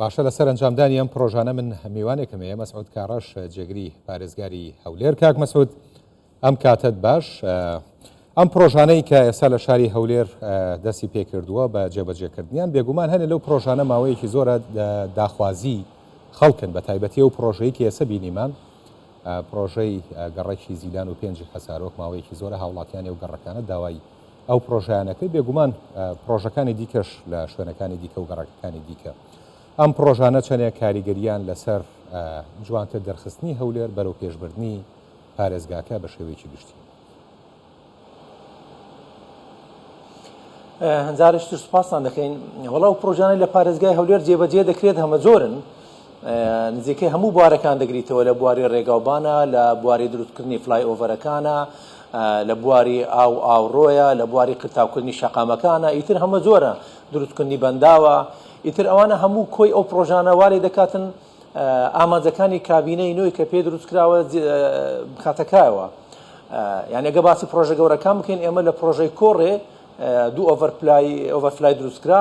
باشە لەسەر ئەنجامدانی ئەم پرۆژانە من میوانێکم هەیە مەسعود کاڕەش جێگری پارێزگاری هەولێر کاک مەسعود ئەم کاتت باش ئەم پرۆژانەی کە ئێستا لە شاری هەولێر دەستی پێکردووە بە جێبەجێکردنیان بێگومان هەنێ لەو پرۆژانە ماوەیەکی زۆرە داخوازی خەڵکن بە تایبەتی ئەو پرۆژەیە کە ئێسە بینیمان پرۆژەی گەڕەکی زیلان و پێنجی حەسارۆک ماوەیەکی زۆرە هاوڵاتیانی و گەڕەکانە داوای ئەو پرۆژەیانە کرد، بێگومان پرۆژەکانی دیکەش لە شوێنەکانی دیکە و گەڕەکەکانی دیکە. ئەم پرۆژانە چەندێک کاریگەریان لەسەر جوانتر دەرخستنی هەولێر بەرەو پێشبردنی پارێزگاکە بە شێوەیەکی گشتی. هەنجارێکی تر سوپاستان دەکەین. وەڵا ئەو پرۆژانەی لە پارێزگای هەولێر جێبەجێ دەکرێت هەمەجۆرن. نزیکەی هەموو بوارەکان دەگریتەوە، لە بواری رێگاوبانە، لە بواری دروستکردنی فلایئۆڤەرەکانە، لە بواری ئاو و ئاوڕۆیە، لە بواری قرتاوکردنی شەقامەکانە، ئیتر هەمەجۆرە، دروستکردنی بەنداوە، ئیتر ئەوانە هەموو کۆی ئەو پڕۆژانە وا لێدەکاتن ئامانجەکانی کابینەی نۆی کە پێی دروستکراوە بخاتە کایەوە. یانی ئەگەر باسی پڕۆژە گەورەکان بکەین، ئێمە لە پڕۆژەی کۆڕێ دوو ئۆڤەرپلای، Overfly، دروستکرا،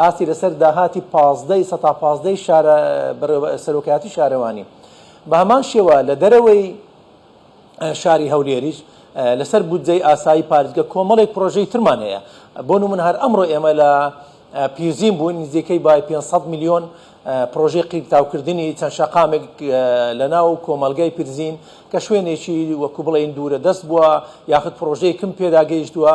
ئاستی لەسەر داهاتی پازدە ی سەتا پازدە ی شارە بەڕێوە سەرۆکایەتی شارەوانی بە هەمان شێوە لە دەرەوەی شاری هەولێریش لەسەر بودجەی ئاسایی پارێزگە کۆمەڵێک پرۆژەی ترمان هەیە بۆ نمونە هەر ئەمڕۆ ئێمە لە پیرزین بووین نزیکەی بای 500 میلیۆن پرۆژەی قیرتاوکردنی چەند شەقامێک لە ناو کۆمەلگای پیرزین کە شوێنێکی وەکو بڵێن دوورە دەست بووە یاخود پرۆژەیەکم پێداگەیشتووە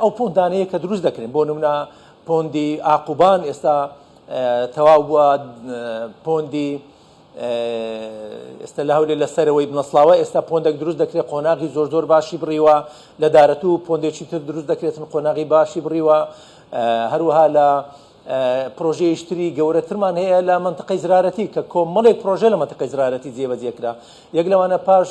ئەو پۆندانەیە کە دروست دەکرێن بۆ نمونە پۆندی ئاقوبان ئێستا تەواو بووە پۆندی ئێستا لە هەولێ لە سەرەوەی بنەسڵاوە ئێستا پۆندێک دروست دەکرێت قۆناغی زۆر زۆر باشی بڕیوە لە دارەت و پۆندێکی تر دروست دەکرێتن قۆناغی باشی بڕیوە هەروها لە پرۆژەیشتری گەورەترمان هەیە لە منطقەی زرارەتی کە کۆمەڵێک پرۆژە لە منطقەی زرارەتی جێبەجێکرا یەک لەوانە پاش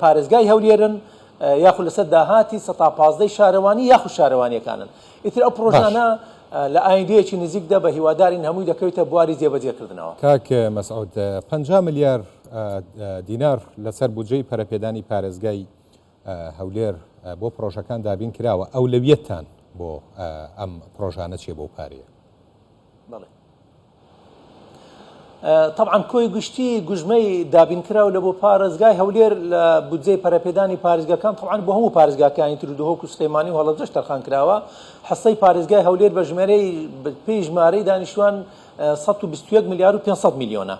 پارێزگای هەولێرن یاخود لەسەر داهاتی سە تا پازدەی شارەوانی یاخود شارەوانیەکانن ئیتر ئەو پرۆژانە لە ئایندەیەکی نزیکدا بە هیوادارین هەمووی دەکەوێتە بواری جێبەجێکردنەوە کاک مەسعود پ ملیار دینار لەسەر بودجەی پەرەپێدانی پارێزگای هەولێر بۆ پرۆژەکان دابین کراوە ئەولەویەتتان بۆ ئەم پرۆژانە چیە بەو پارەیە بەڵێ تەبعەن کۆی گشتی گوژمەی دابینکراو لە بۆ پارێزگای هەولێر لە بودجەی پەرەپێدانی پارێزگاکان تەبعەن بۆ هەموو پارێزگاکانی تر و دهۆک و سلێمانی و هەڵەبجەش تەرخان کراوە حەسەی پارێزگای هەولێر بە ژمێرەی پێی ژمارەی دانیشتوان 121 ملیار و 500 میلیۆنە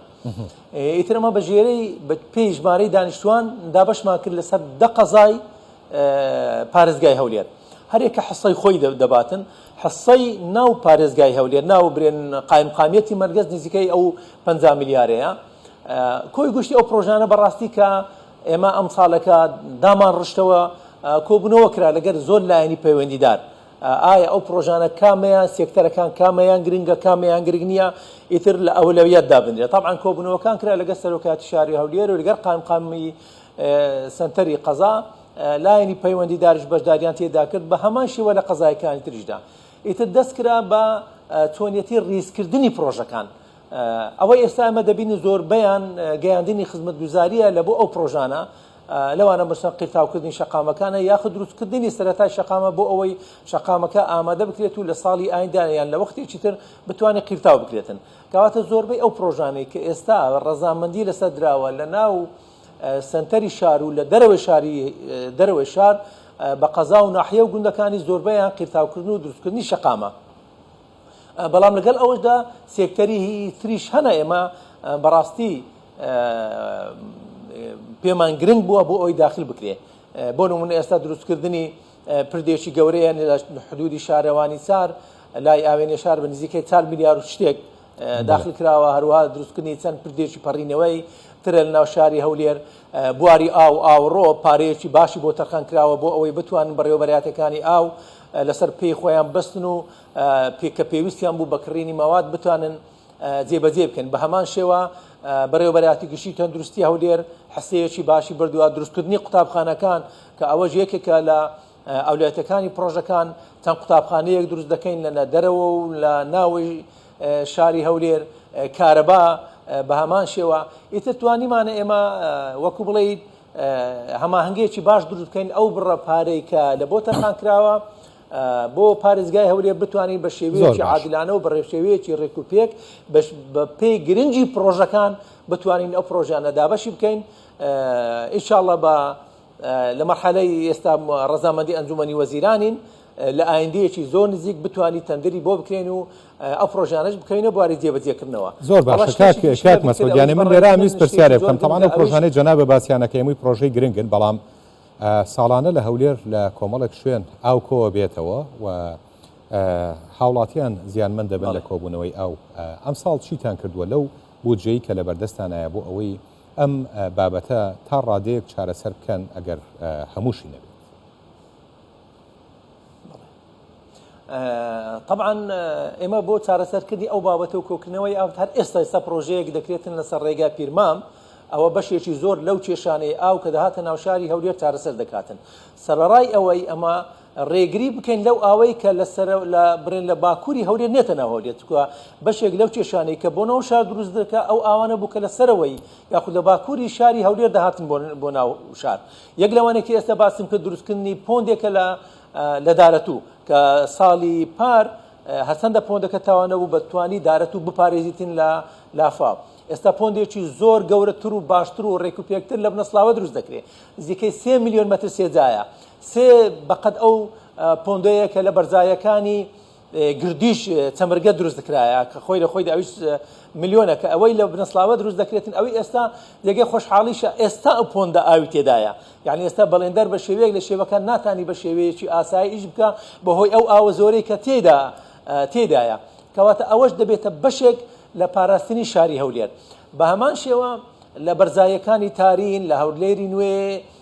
ئیتر ئەمە بە ژێرەی پێی ژمارەی دانیشتوان دابەشمان کرد لەسەر دە قەزای پارێزگای هەولێر هەریەکە حصەی خۆی دەباتن حصەی ناو پارێزگای هەولێر ناو برێن قایمقامیەتی مەرگەز نزیکەی ئەو پ میلیارەیە کۆی گشتی ئەو پرۆژانە بەڕاستی کە ئێمە ئەم ساڵەکە دامان ڕشتەوە کۆبوونەوە کرا لەگەر زۆر لایەنی پەیوەندیدار ئایا ئەو پرۆژانە کامەیان سێکتەرەکان کامەیان گرنگە کامەیان گرنگ نییە ئیتر لە ئەولەویەت دابنرێت تاعاان کۆبوونەوەکان کرا لەگە سەرۆکاتی شاری هەولێر و لەگەر قایمقامی سەنتەری قەزا، لایەنی پەیوەندیدارش بەشداریان تێدا کرد، بە هەمان شێوە لە قەزایەکانی تریشدا. ئیتر دەستکرا بە چۆنیەتی ڕیزکردنی پڕۆژەکان. ئەوەی ئێستا ئێمە دەبینین زۆربەیان گەیاندنی خزمەتگوزارییە لە بۆ ئەو پڕۆژانە، لەوانە مەسەن قیرتاوکردنی شەقامەکانە یاخود دروستکردنی سەرەتای شەقامە بۆ ئەوەی شەقامەکە ئامادە بکرێت و لە ساڵی ئایندە یان لە وەختێکی تر بتوانێت قیرتاو بکرێتن. کەواتە زۆربەی ئەو پرۆژانەی کە ئێستا ڕەزامەندی لەسەر دراوە لە ناو سەنتەری شار و لە دەرەوەی شاری دەرەوەی شار بە قەزا و ناحیە و گوندەکانی زۆربەیان قیرتاوکردن و دروستکردنی شەقامە بەڵام لەگەڵ ئەوەشدا سێکتەری تریش هەنە ئێمە بەڕاستی پێمان گرنگ بووە بۆ ئەوی داخل بکرێ بۆ نمونە ئێستا دروستکردنی پردێکی گەورەیە لە حدودی شارەوانی چار لای ئاوێنێ شار بە نزیکەی چار میلیار و شتێک داخل کراوە هەروە دروستکردنی چەند پردێکی پەڕینەوەی ترە لە ناو شاری هەولێر بواری ئاو ئاوڕۆ پارەیەکی باشی بۆ تەرخان کراوە بۆ ئەوەی بتوان بەڕێوەبەراتەکانی ئاو لەسەر پێی خۆیان بەستن و پێکە پێویستیان بوو بە کڕینی مەواد بتوانن جێبەجێ بکەن، بەهەمان شێوە بەڕێوەبەرایەتی گشتی تەندروستی هەولێر حەسێوێکی باشی بردوە، دروستکردنی قوتابخانەکان کە ئەوەش یەکێکە لە ئەولەویەتەکانی پڕۆژەکان، چەند قوتابخانەیەک دروست دەکەین لە نەدەرەوە و لە ناوەوەی شاری هەولێر، کارەبا بەهەمان شێوە، ئیتر توانیمانە ئێمە وەکو بڵێیت هەماهەنگیەکی باش دروست بکەین، ئەو بڕە پارەی کە لە بۆ تەرخانکراوە، بۆ پارێزگای هەولێر بتوانین بە شێوەیەکی عادلانە و بە ڕێشێوەیەکی ڕێک و پێک بە پێی گرنگی پرۆژەکان بتوانین ئەو پرۆژیانە دابەشی بکەین ئیشاءاللە بە لە مەحەلەی ئێستا ڕزامەندی ئەنجومنی وەزیرانین لە ئایندەیەکی زۆر نزیک بتانی تەندری بۆ بکرێن و ئەو پرۆژانش بکەینە بواری جێبەجێکردنەوە زۆر باشکات مەسۆگیانی من لێرا میز پرسیارێ بکەم تەوانە پرۆژانەی جەنا بە باسییانەکەی مووی پرۆژەی گرنگن بەڵام ساڵانە لە هەولێر لە کۆمەڵێک شوێن ئاو کۆوە بێتەوە و هاوڵاتیان زیانمەند دەبن لە کۆبوونەوەی ئاو، ئەمساڵ چیتان کردووە لەو بودجەی کە لەبەردەستانایە بۆ ئەوەی ئەم بابەتە تا ڕادەیەک چارەسەر بکەن ئەگەر هەمووشی نەبێت؟ تەبعەن ئێمە بۆ چارەسەرکردنی ئەو بابەتە و کۆکنەوەی ئاوت هەر ئێستا ئێستا پرۆژەیەک دەکرێتن لەسەر ڕێگا پیرمام ئەوە بەشێکی زۆر لەو کێشانەی ئاو کە دەهاتە ناوشاری هەولێر چارەسەر دەکاتن سەرڕای ئەوەی ئەمە ڕێگری بکەین لەو ئاوەی کە لە سەر لە برێن لە باکووری هەولێر نێتەنە هەولێت کووە بەشێک لەو کێشانەی کە بۆ ناو شار دروست دەکە ئەو ئاوانە بوو کە لە سەرەوەی یاخود لە باکووری شاری هەولێر دەهاتن بۆ ناو شار یەک لەوانەی کە ئێستا باسم کرد دروستکردنی پۆندێکە لە لە دارەتوو کە ساڵی پار هەرچەندە پۆندەکە تاوانە بوو بە توانی دارەتوو بپارێزیتن لە لافا ئێستا پۆندێکی زۆر گەورەتر و باشتر و ڕێک و پێکتر لە بنەسڵاوە دروست دەکرێت زیکەی سێ میلیۆن مەتر سێجایە سێ بەقەد ئەو پۆندەیە کە لە بەرزایەکانی گردیش چەمرگە دروست دکرایە کە خۆی لە خۆی دا ئەویش ملیۆنە کە ئەوەی لە بنەسڵاوە دروست دەکرێتن ئەوی ئێستا جێگەی خۆشحاڵیشە ئێستا ئەو پۆندە ئاوی تێدایە یعنی ئێستا بەڵێندەر بە شێوەیەک لە شێوەکان ناتانی بە شێوەیەکی ئاسایی ئیش بکە بەهۆی ئەو ئاوە زۆرەی کە تێدا تێدایە کەواتە ئەوەش دەبێتە بەشێک لە پاراستنی شاری هەولێر بە هەمان شێوە لە بەرزایەکانی تارین لە هەولێری نوێ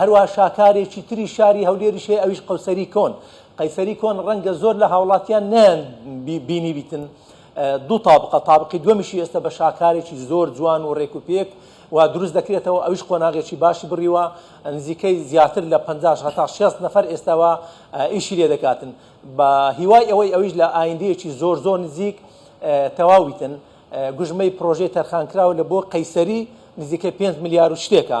هەروەها شاکارێکی تری شاری هەولێریش هەیە ئەویش قەوسەری کۆن قەیسەری کۆن ڕەنگە زۆر لە هاوڵاتیان نیان بینی بیتن دوو تابقە تابقی دومیشی ئێستا بە شاکارێکی زۆر جوان و ڕێک و پێک و دروست دەکرێتەوە ئەوش قۆناغێکی باشی بڕیوە نزیکەی زیاتر لە 50 هەتا 60 نەفر ئێستاوە ئیشی لێ دەکاتن بە هیوای ئەوەی ئەویش لە ئایندەیەکی زۆر زۆر نزیک تەواویتن گژمەی پرۆژەی تەرخانکراوە لە بۆ قەیسەری نزیکەی 5 ملیار و شتێکە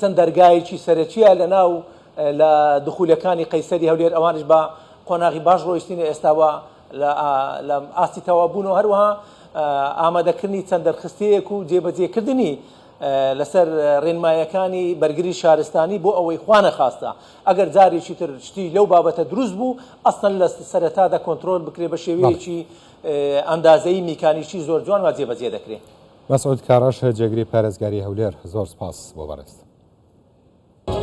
چەند دەرگایەکی سەرەکیە لە ناو لە دخولەکانی قەیسەری هەولێر ئەوانش بە قۆناغی باش ڕۆیشتینە ئێستا و لە لە ئاستی تەواو بوون و هەروەها ئامادەکردنی چەند دەرخستەیەک و جێبەجێکردنی لەسەر ڕێنمایەکانی بەرگری شارستانی بۆ ئەوەی خوانە خواستە ئەگەر جارێکی تر شتی لەو بابەتە دروست بوو ئەسڵەن لە سەرەتادا کۆنترۆل بکرێ بە شێوەیەکی ئەندازەی میکانیکی زۆر جوان وا جێبەجێ دەکرێ. مەسعود کاڕەش جێگری پارێزگاری هەولێر زۆر سپاس بۆ بەڕێزتان.